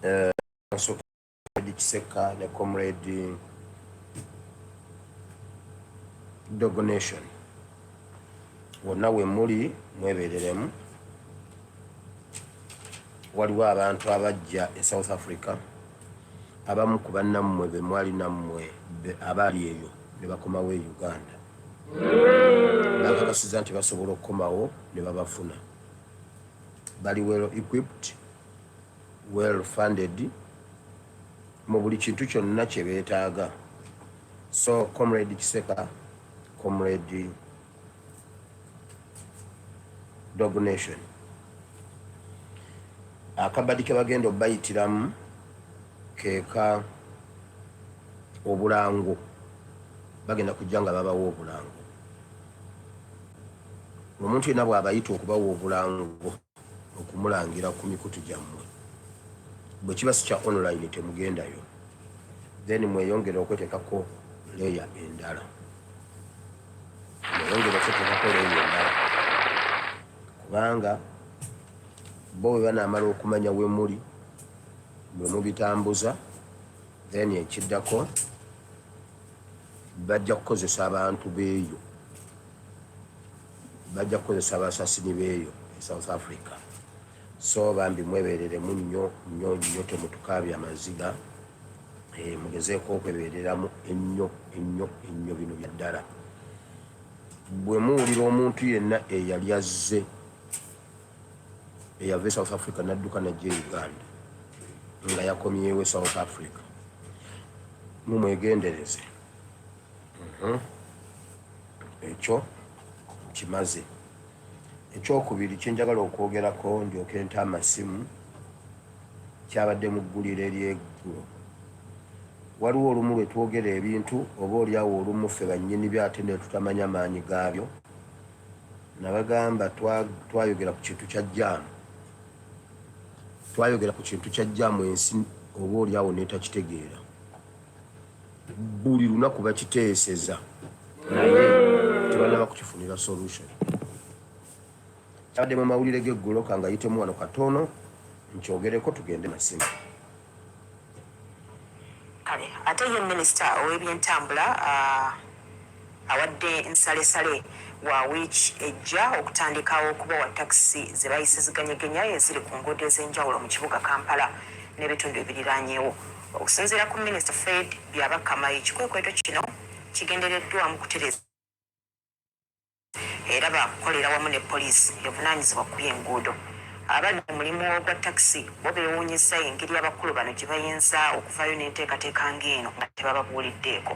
eh, kasooka kisekka ne comrade dogonation wonna we muli mwebereremu waliwo abantu abajja e south africa abamu ku bannammwe be mwali nammwe abaali eyo ne bakomawo e uganda bakakasiza nti basobola okukomawo ne babafuna bali well equipped, well funded mu buli kintu kyonna kye beetaaga. So Comrade Kiseka, Comrade Dog Nation, akabadi ke bagenda obayitiramu keeka obulango bagenda kujja nga babawa obulango omuntu yenna bw'abayita okubawa obulango okumulangira ku mikutu gyammwe bwe kiba si kya online temugendayo then mweyongere okwetekako leya endala mweyongere okwetekako leya endala kubanga bo bwe banaamala okumanya we muli mwe mubitambuza then ekiddako bajja kukozesa abantu beeyo bajja kukozesa abasasini beeyo e South Africa so bambi mwebereremu nnyo nnyo nnyo temutukaabya amaziga eh, mugezeeko okwebereramu ennyo ennyo ennyo bino bya ddala bwe muwulira omuntu yenna eyali azze eyava e South Africa nadduka najja e Uganda nga yakomyewo e South Africa mumwegendereze Mhm. Ekyo nkimaze. Eky'okubiri kye njagala okwogerako ndyoke nte amasimu kyabadde mu gguliro ery'eggulo. Waliwo olumu lwe twogera ebintu oba olyawo olumu ffe bannyini byo ate ne tutamanya maanyi gaabyo. Nabagamba twayogera ku kintu kya jaamu, twayogera ku kintu kya jaamu ensi oba olyawo n'etakitegeera. buli lunaku bakiteeseza naye tebanaba kukifunira solution kyabadde mu mawulire g'eggulo kangayitemu wano katono nkyogereko tugende masimu kale ate ye minisita ow'ebyentambula uh... Awadde nsalesale wa wiiki ejja okutandikawo okubawa takisi ze bayise ziganyegenya eziri ku nguudo ez'enjawulo mu kibuga Kampala n'ebitundu ebiriraanyewo. Okusinziira ku minisita Fred Byabakama ekikwekweto kino kigendereddwamu kutereeza. era baakukolera wamu ne poliisi evunaanyizibwa ku by'enguudo. Abali mu mulimu ogwa takisi bo beewuunyizza engeri abakulu bano gye bayinza okuvaayo n'enteekateeka ng'eno nga tebababuuliddeeko.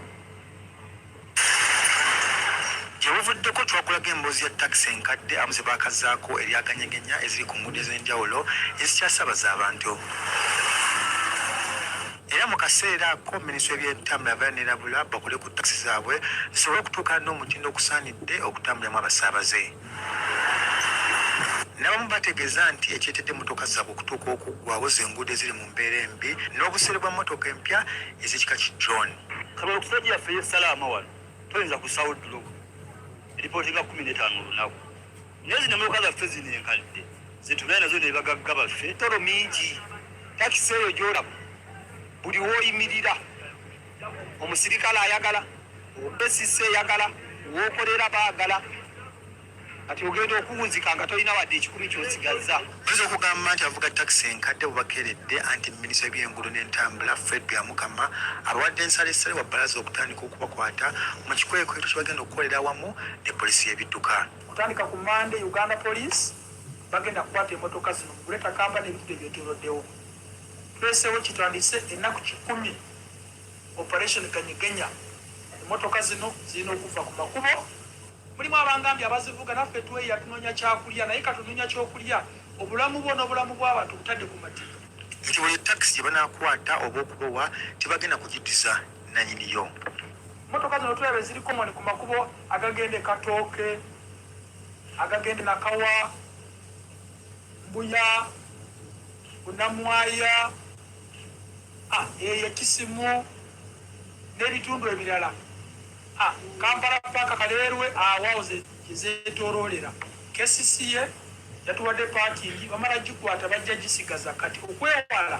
Gye buvuddeko twakulaga emboozi ya takisi enkadde abamu ze baakazzaako erya ganyegenya eziri ku nguudo ez'enjawulo ezikyasaabaza abantu. era mu kaseera ako minisitule byentambula abeera nerabula bakole ku takisi zaabwe zisobole okutuukana n'omutindo ogusaanidde okutambulamu abasaabaze nabamu bategeeza nti ekyeteedde motoka zaabwe okutuuka okuggwawo zenguudo eziri mu mbeera embi n'obuseere bwa motoka empya ez'ekika ki john kaba okusajja yaffe yesalaama wano toyinza kusaawo ddulogo eripooti nga kumi n'etaano olunaku Naye zino mmotoka zaffe zino enkadde zetubeera nazo ne bagagga baffe toro mingi takisi eyo gyolaba buli woyimirira omusirikale ayagala obesisi eyagala wokolera baagala kati ogenda okuwunzika nga tolina wadde ekikumi kyosigazza oyinza okugamba nti avuga takisi enkadde bubakeredde anti minisita by'enguudo n'entambula fred byamukama abawadde ensalesale wa balaza okutandika okubakwata mu kikwekweto kye bagenda okukolera awamu ne polisi y'ebidduka Kutandika ku Mmande, Uganda Police bagenda kukwata emotoka zino mu Greater Kampala n'ebitundu ebyetooloddewo. Tuleeseewo kitandise ennaku kikumi Operation Ganyegenya. Emotoka zino zirina okuvva ku makubo. Mulimu abangambye abazivuga naffe tweya tunoonya kyakulya naye kati onoonya kyokulya obulamu bwo n'obulamu bw'abantu obutadde ku matiku. Nti buli takisi gye banaakwata oba okubowa tebagenda kugiddiza. nanyini yo. Motoka zino tulaba eziri common ku makubo agagende Katooke, agagende Nakawa, Mbuya, Bunamwaya, ah, eye Kisimu, n'ebitundu ebirala. Ah, Kampala paka Kaleerwe awawo ah, zezetoroolera KCCA yatuwadde parking bamala gikwata bajja gisigaza kati okwewala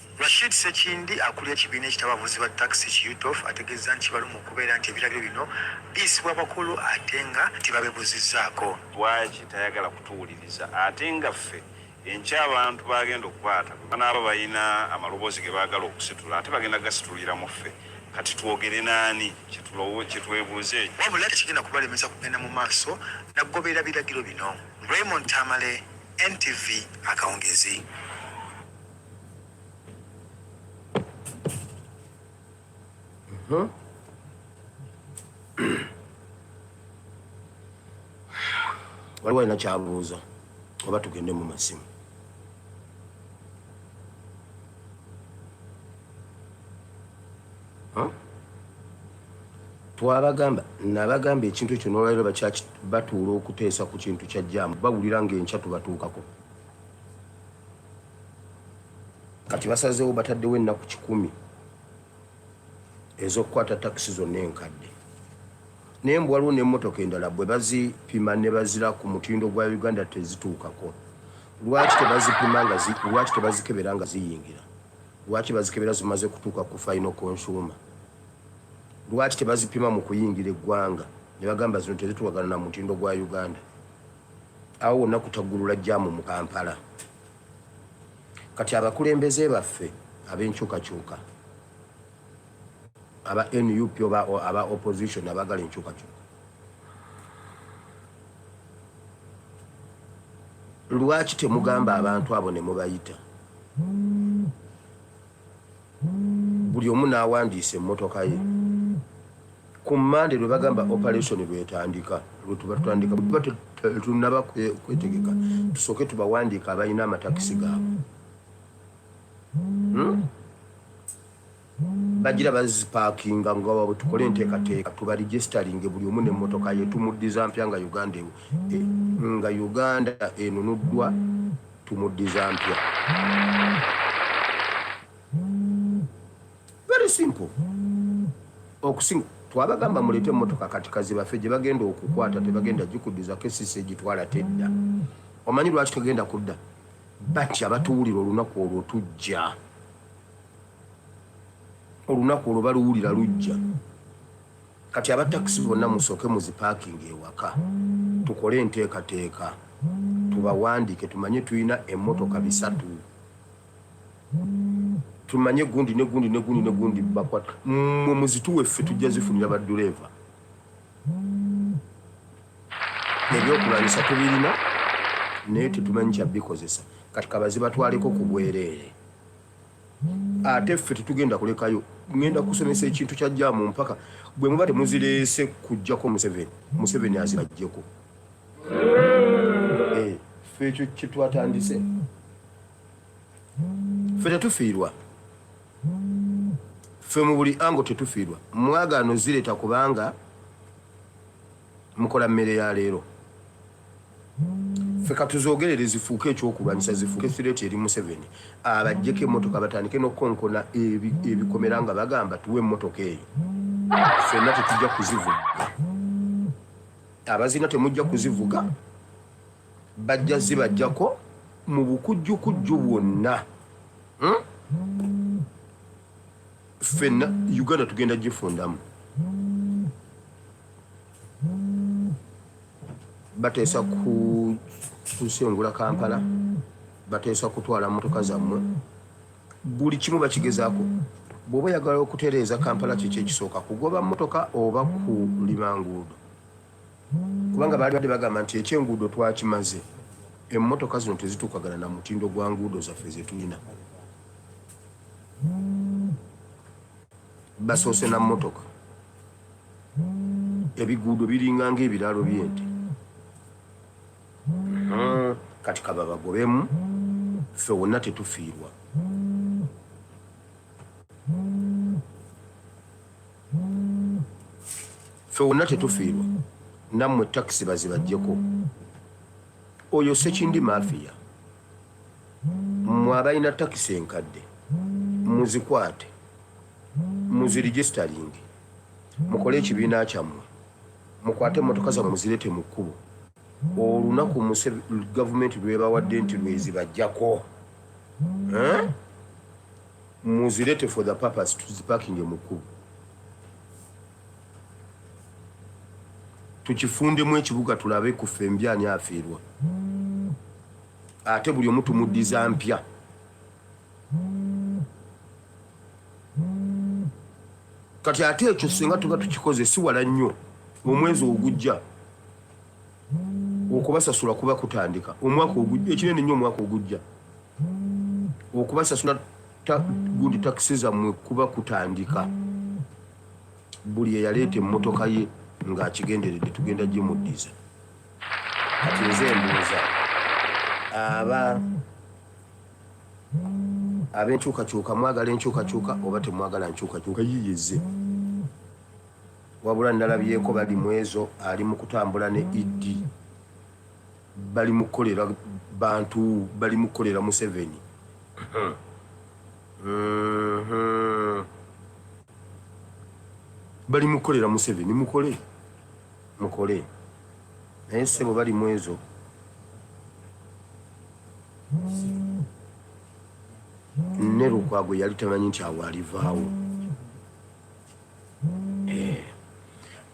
Rashid Ssekindi akulira ekibiina ekitaba abavuzi ba taxi ki UTOF ategeezza nti kibaluma okubeera nti ebiragiro bino biyisibwa abakulu ate nga tebabebuzizzaako. Lwaki tayagala kutuwuliriza ate nga ffe enkya abantu baagenda okukwata bwe banaaba balina amaloboozi ge baagala okusitula ate bagenda kugasituliramu ffe kati twogere n'ani kye twebuuze. Wabula tekigenda kubalemesa kugenda mu maaso na kugoberera biragiro bino. Raymond Tamale, NTV, Akawungeezi. Hmm? waliwo alina kyabuuza oba tugende mu masimu twabagamba nabagamba ekintu ekyo nolwaliro batuula okuteesa ku kintu kyajjaamu bawulira ngaenkya tubatuukako Kati basazeewo bataddewo ennaku kikumi ez'okukwata takisi zonna enkadde naye mbu waliwo n'emmotoka endala bwe bazipima ne bazira ku mutindo gwa Uganda tezituukako. Lwaki tebazipima nga zi, lwaki tebazikebera nga ziyingira? Lwaki bazikebera zimaze kutuuka ku final consumer? Lwaki tebazipima mu kuyingira eggwanga ne bagamba zino tezituukagana na mutindo gwa Uganda? Awo wonna kutaggulula jjaamu mu Kampala. Kati abakulembeze baffe abenkyukakyuka aba nup oba aba opposition abagala enkyukakyuka lwaki temugamba abantu abo nemubayita buli omu n'awandiisa emmotoka ye ku mande lwe bagamba operation lwetandika lwetuba tutandika tuba tunaba kwetegeka tusooke tubawandiika abalina amatakisi gaabwe hmm? bagira bazipakinga nga wabwe tukole enteekateeka tubaregisitalinge buli omu nemmotoka ye tumuddiza mpya nga uganda e, nga uganda enunuddwa Tumuddiza mpya. Very simple. Okusinga twabagamba mulete emotoka kati kazibafe gye bagenda okukwata tebagenda gikuddiza kesisi egitwala tedda. Omanyi lwaki tegenda kudda? Bati abatuwulira olunaku olwo tujja. Olunaku olwo baluwulira lujja. Kati aba taxi bonna musooke muzipakinge ewaka tukole enteekateeka tubawandiike tumanye tulina emmotoka bisatu tumanye gundi ne gundi ne gundi ne gundi bakwata mwe muzituwe ffe tujja zifunira badduleeva ebyokulwanyisa tubirina naye tetumanyi kyabikozesa kati kabazibatwaleko ku bwereere ate ffe tetugenda kulekayo ngenda kusomesa ekintu kya jaamu mpaka bwe muba temuzireese kujjako museveni museveni azibajjeko eh, ffe ekyo kyetwatandise ffe tetufiirwa ffe mu buli ango tetufiirwa mwagaano zireeta kubanga mukola mmere ya leero ffe katuzogerere zifuuke ekyokulwanyisa zifuuke threat eri museveni abajjeko emotoka batandike nokukonkona ebikomera nga bagamba tuwe emotoka eyo fenna tetujja kuzivuga abazina temujja kuzivuga bajja zibajjako mu bukujjukujju bwonna hmm? fenna uganda tugenda gifundamu bateesa kusengula kampala bateesa kutwala motoka zammwe buli kimu bakigezaako bw'oba oyagala okutereeza kampala kiki ekisooka kugoba motoka oba kulima nguudo kubanga baali badde bagamba nti ekyenguudo twakimaze emmotoka zino tezituukagana na mutindo gwa nguudo zaffe zetulina basoose na mmotoka ebiguudo biringa nga ebiraalo byente hmm, kati kababagobemu ffe wonna tetufiirwa ffe wonna tetufiirwa nammwe takisi bazibajjeko oyo sekindi mafiya mwe abalina takisi enkadde muzikwate Muziregisitalinge, mukole ekibiina kyammwe, mukwate emmotoka zammwe muzireete mu kkubo olunaku Muse gavumenti lw'ebawadde nti lw'ezibaggyako, muzireete for the purpose tuzipakinge mu kkubo. tukifundemu ekibuga tulabe ku ffe mbi ani afiirwa ate buli omu tumuddiza mpya kati ate ekyo singa tuba tukikoze siwala nnyo omwezi ogujja okubasasula kuba kutandika omwaka ogujja ekinene nnyo omwaka ogujja okubasasula gundi takisi zammwe kuba kutandika buli eyaleeta emmotoka ye ng'akigenderedde tugenda gimuddiza kati nze embuuza aba Ab'enkyukakyuka mwagala enkyukakyuka oba temwagala nkyukakyuka yiyo ezze. Wabula nalabyeko bali mwezo ali mu kutambula ne ED. Bali mu kukolera bantu, bali mu kukolera Museveni. Bali mu kukolera Museveni, mukole mukole naye ssebo bali mwezo. ne lukwago yali tamanyi nti awo alivaawo eh,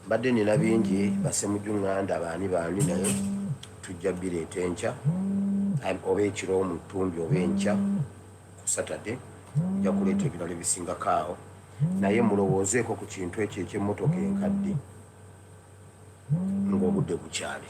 mbadde nina bingi basemuju nganda baani baani naye tujja bireeta enkya oba ekiro mu ttumbi oba enkya ku saturday nja kuleeta ebirala ebisingako awo naye mulowoozeeko ku kintu ekyo ekyemotoka enkadde ng'obudde bukyali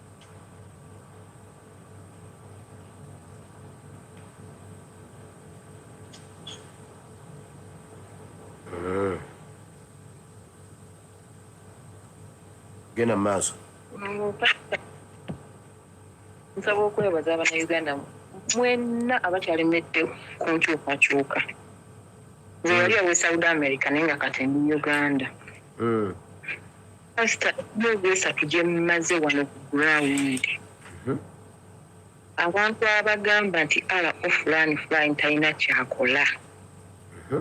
genda mu maaso nsaba okwebaza abanauganda mwenna abakyalemedde ku nkyukakyuka nze yali awe south america naye nga kati ndi uganda hmm. Pastor, emyezi esatu gye mmaze wano ku ground abantu abagamba nti ala ofulani fulani talina kyakola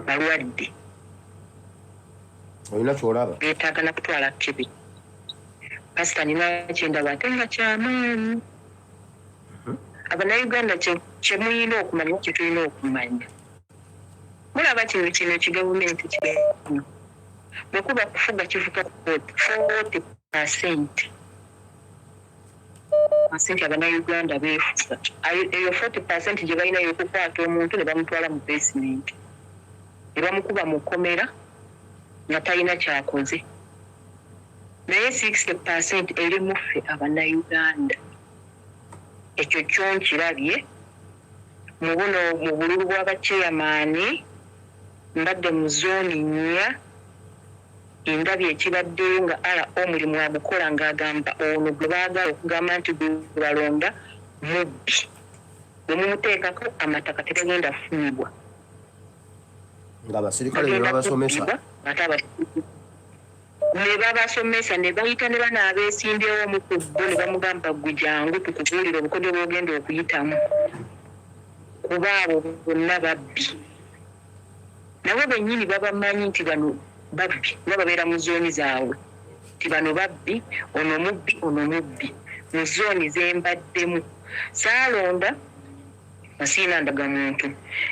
balwadde olina kyolaba betaaga na kutwala kibi pasita nina kyendaba ate nga kyamaanyi abanauganda kyemuyina okumanya kyetulina okumanya Mulaba kino kino ki gavumenti kino bwe kuba kufuga kivuka ku kooti footi pasenti sente abanauganda beefusa eyo forty percent gye balina yokukwata omuntu ne bamutwala mu basement ne bamukuba mu kkomera nga talina kyakoze naye sixty percent eri muffe abanauganda Ekyo kyo nkirabye mu buno mu bululu bwa bacheyamaani, mbadde mu zooni nnya, ndabye ekibaddeyo nga RO omulimu agukola ng'agamba ono gwe baagala okugamba nti gwe balonda mubbi, bwe mumuteekako amataka tegagenda kufunibwa. Ng'abasirikale be babasomesa. Ate abasirikale. ne babasomesa ne bayita ne bano abeesimbyewo omu ku bo ne bamugamba ggwe jangu tukubuulire obukodyo bw'ogenda okuyitamu kuba abo bonna babbi nabo bennyini babamanyi nti bano babbi kuba babeera mu zooni zaabwe nti bano babbi ono mubbi ono mubbi mu zooni ze mbaddemu saalonda nga siina ndaga muntu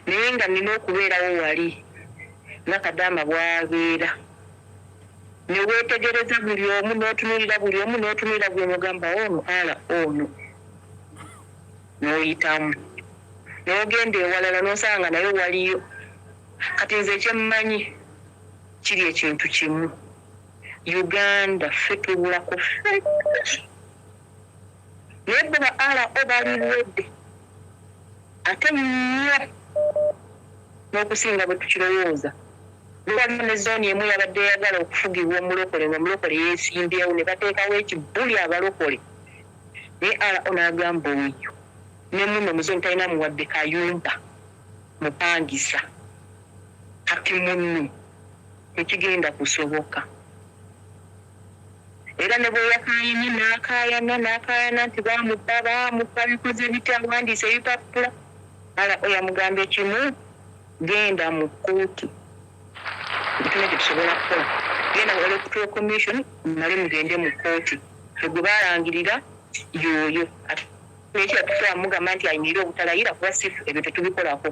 naye nga nina okubeerawo wali nga kadaama bwabeera ne weetegereza buli omu n'otunulira buli omu n'otunulira buli omu ogamba ono ala ono n'oyitamu n'ogenda ewalala n'osanga nga nayo waliyo kati nze ekyemmanyi kiri ekintu kimu uganda ffe tubulako ffe Naye bo ba RO bali ready ate nnyo n'okusinga bwe tukirowooza. Luli waliwo ne zooni emu eyabadde eyagala okufugibwa omulokole ng'omulokole yeesimbyewo ne bateekawo ekibuli abalokole naye RO n'agamba oyo ne munno mu zooni talinaamu wadde kayumba mupangisa. Kati muno tekigenda kusoboka. Era ne bwe yakaayanye n'akaayana n'akaayana nti baamubba, baamubba, bikoze bitya, awandiise ebipapula, Allah yamugambye kimu, Genda mu kkooti. Tulina kye tusobola kukola. Genda mu Electoral Commission mumale mugende mu kkooti. Ffe gwe baalangirira y'oyo. Ate n'ekirala tusobola kumugamba nti ayimirire obutalayira kuba si ffe, ebyo tetubikolako.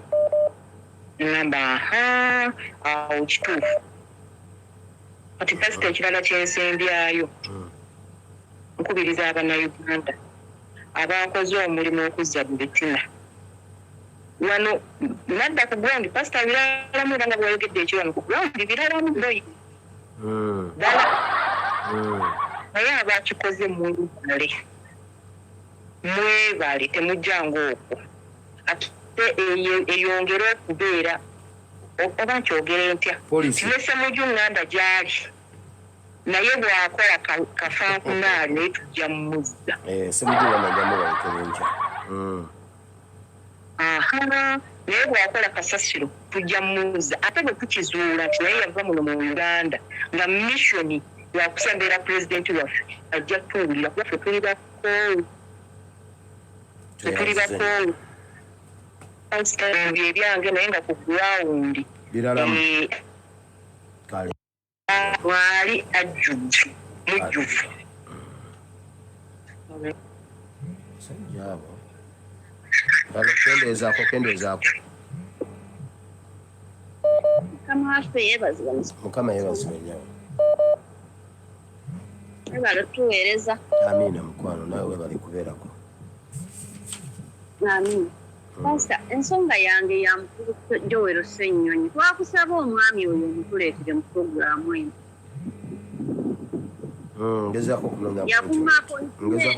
Ne ŋŋamba, Ahaa, awo kituufu. Kati kasita ekirala kyensembyayo hmm. nkubiriza abanauganda abakoze omulimu okuzza mu bitina wano nadda ku ground pasita biralamu era nga bwayogedde ekyo wano ku ground biralamu boyi hmm. dala hmm. naye abakikoze mwebale mwebale temujjanga okwo ate eyongere okubeera oba nkyogere ntya Police. ne semuju nganda gyali naye bwakola ka- kafankunaali naye tujja mumuzza Eh, semuju nganda njamu balekera enkya Mm. aha naye bwakola kasasiro tujja mumuzza ate bwe tukizuula nti naye yava muno mu uganda nga missioni yakusembera pulezidenti waffe ajja kutuwulira kuba ffe tuli bakoowu ffe tuli bakoowu Ebyo ebyange naye nga ku ground Biralamu. eh, Kale. mwali ajjudde mujjuvu. Musajja abo. Kale kendeezaako kendeezaako. Mukama waffe yeebazibwe. Mukama yeebazibwe nnyo. webale tuweereza amiina mukwano nawe webale kubeerako amiina hmm. pasta ensonga yange ya mukulu jowero ssennyonyi twakusaba omwami oyo omutuleetere mu puroguramu eno hmm, ngezaako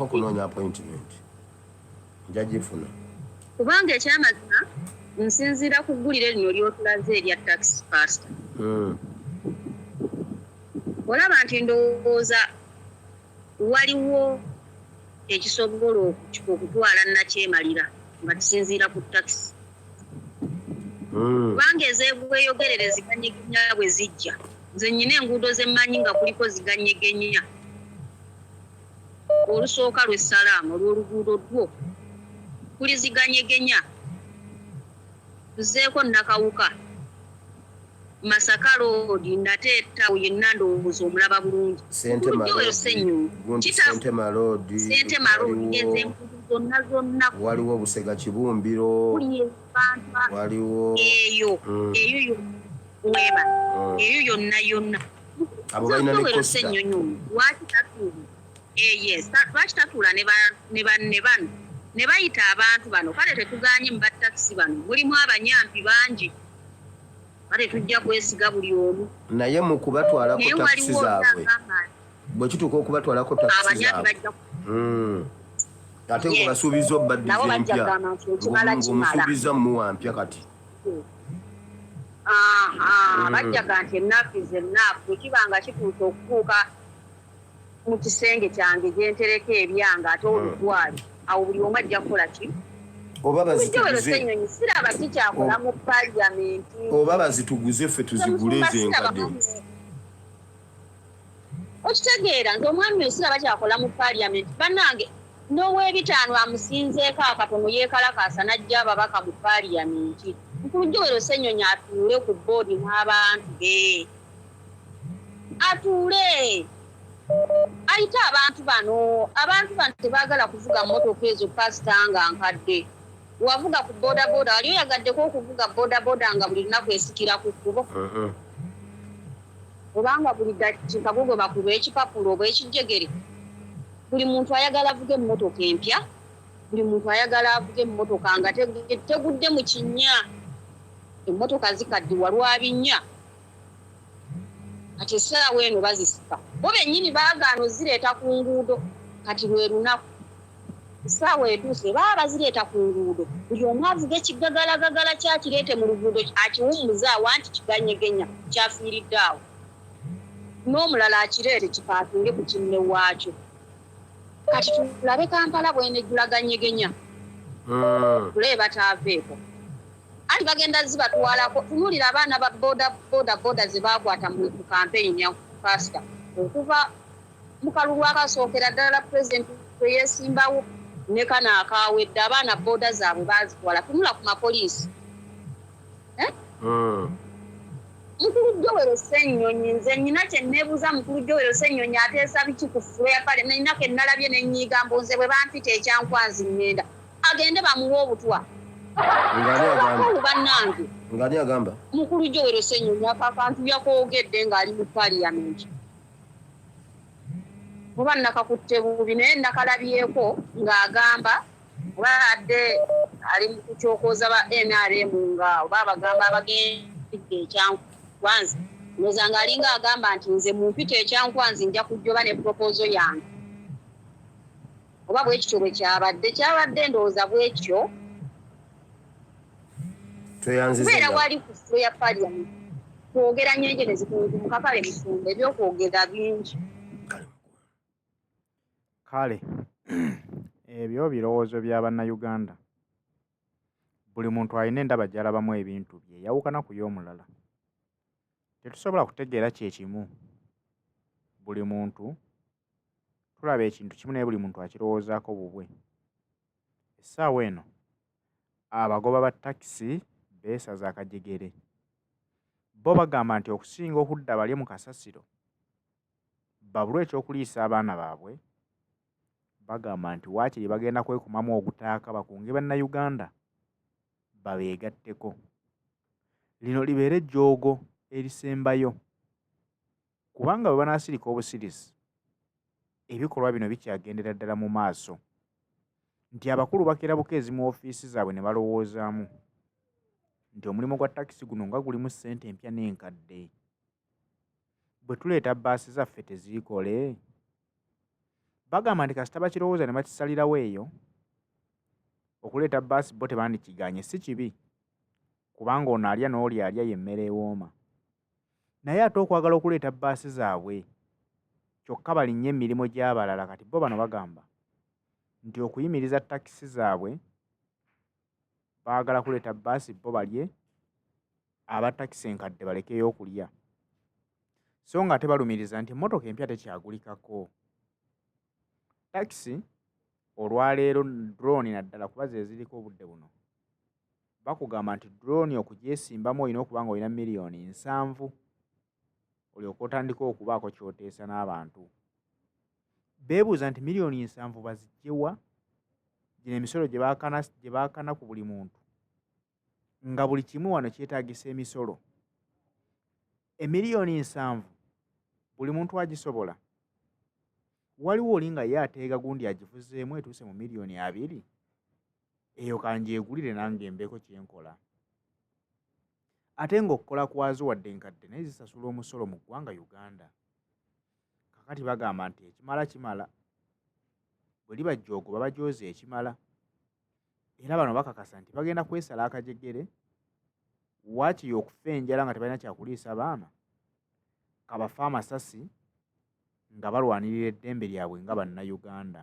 okunoonya appointment nja gifuna. Kubanga ekyamazima nsinziira ku ggulire lino ly'otulaze erya Tax Pastor. Hmm. Olaba nti ndowooza waliwo ekisobola okutwala nakyemalira nga tusinziira ku takisi hmm. kubanga ezegweyogerere ziganyegenya bwe zijja nze nyina enguudo zemmanyi nga kuliko ziganyegenya olusooka lwe salaama olw'oluguudo lwo kuliziganyegenya tuzeeko nakawuka masaka loodi nate etawo yenna ndowooza omulaba bulungi zonna zonna waliwo busega kibumbiro waliwo eyo mm. eyo yonna mm. eyo yonna yonna abo balina ne costa lwaki tatuula eh, yes lwaki tatuula ne banne bano ne bayita abantu bano kale tetuganye mu batakisi bano mulimu abanyampi bangi kale tujja kwesiga buli omu naye mu kubatwalako takisi zaabwe bwe kituuka okubatwalako takisi zaabwe hmm. ate ngobasuubiza obaddiza empya ngomusuubiza muwa mpya kati Mm. bajjaga nti ennaku is ennaku bwekiba nga kituusa okutuuka mu kisenge kyange gyentereka ebyanga ate olutwali mm. awo buli omu ajja kukola ki siraba kikyakola mu paliamenti oba bazituguze ffe tuzigule ezenkadde okitegeera nti omwami osira bakyakola mu parliament banange nowebitaano amusinzeeko akatono yekalakaasa najja ababaka mu parliament nkulujowero senyonyi atuule ku boodi n'abantu be atuule ayite abantu bano abantu bano tebagala kuvuga motoka ezo pasita nga nkadde wavuga ku bodaboda wali oyagaddeko okuvuga bodaboda nga buli lunaku esikira ku kkubo uh-huh. Oba nga buli dakika gwo gwebakuba ekipapula oba ekijjegere. Buli muntu ayagala avuge emmotoka empya, buli muntu ayagala avuge emmotoka nga tegudde mu kinnya. Emmotoka zikaddiwa lwa binnya. Kati essaawa eno bazisika. Bo bennyini baagaana ozireeta ku nguudo. Kati lwe lunaku. Essaawa etuuse baba bazireeta ku nguudo buli omu avuge ekiggagalagagala kye akireete mu luguudo akiwummuze awo anti kiganyegenya kyafiiridde awo n'omulala akireete kipaakinge ku kinne waakyo. Kati tulabe Kampala bw'enejjula ganyegenya hmm. tulabe bataaveeko anti bagenda zibatwalako. Tunuulira abaana ba boda boda boda ze baakwata mu kampeyini ya paasita okuva mu kalulu akasookera ddala pulezidenti kwe yeesimbawo ne kano akaawedde abaana booda zaabwe baazitwala tunula ku mapoliisi eh? hmm. mukulu jowero senyonyi nze nyina kyenebuuza mukulu jowero senyonyi ateesa biki ku fula ya pale nenako enalabye nenyiiga mbu nze bwe bampita ekyankwanzi ngenda agende bamuwa obutwa banange mukulu jowero senyonyi akakantu yakoogedde ng'ali mu paliyamenti kuba nakakutte bubi naye nakalabyeko ng'agamba oba adde ali kukyokoza ba nrm nga oba abagamba abagendigga ekyankwanzi noza nga alinga agamba nti nze mumpita ekyankwanzi nja kujjoba ne propozo yange oba bwekityo bwekyabadde kyabadde ndowooza bwekyo kubeera wali ku flo ya parliament kwogera nyenje nezikunzumuka kale musumba ebyokwogera bingi kale ebyo birowoozo bya bannayuganda buli muntu alina endaba gyalabamu ebintu bye yawukana ku y'omulala tetusobola kutegeera kyekimu buli muntu tulaba ekintu kimu naye buli muntu akirowoozaako bubwe essaawa eno abagoba ba takisi beesaza akajegere bo bagamba nti okusinga okudda balye mu kasasiro babulwe ekyokuliisa abaana baabwe bagamba nti waakiri bagenda kwekumamu ogutaaka bakunge bannayuganda babeegatteko lino libeere ejjoogo erisembayo kubanga bwe banaasirika obusirisi ebikolwa bino bikyagendera ddala mu maaso nti abakulu bakera bukeezi mu ofiisi zaabwe ne balowoozaamu nti omulimu gwa takisi guno nga gulimu ssente empya n'enkadde bwe tuleeta bbaasi zaffe teziikole bagamba nti kasita bakirowooza ne bakisalirawo eyo okuleeta bbaasi bo tebandikiganye si kibi kubanga ono alya n'oli alya y'emmere ewooma naye ate okwagala okuleeta bbaasi zaabwe kyokka balinnye emirimu gy'abalala kati bo bano bagamba nti okuyimiriza takisi zaabwe baagala kuleeta bbaasi bo balye aba takisi enkadde balekeyo okulya so nga ate balumiriza nti emmotoka empya tekyagulikako takisi olwaleero drone naddala kuba zeziriko obudde buno bakugamba nti drone okugyesimbamu olina okuba nga olina miliyoni nsanvu olyoka otandika okubaako kyoteesa n'abantu beebuuza nti miliyoni nsanvu bazigyewa gino emisolo gye bakana ku buli muntu nga buli kimu wano kyetagisa emisolo emiliyoni nsanvu buli muntu agisobola waliwo oli nga ye ateega gundi agivuzeemu etuuse mu miliyoni abiri eyo kangyegulire nange mbeeko kyenkola ate ng'okukola kwazo wadde nkadde naye zisasula omusolo mu ggwanga uganda kakati bagamba nti ekimala kimala bwe liba joogo babajooza ekimala era bano bakakasa nti bagenda kwesala akajegere waakiri okufa enjala nga tebalina kyakuliisa baana kabafe amasasi nga balwanirira eddembe lyabwe nga bannayuganda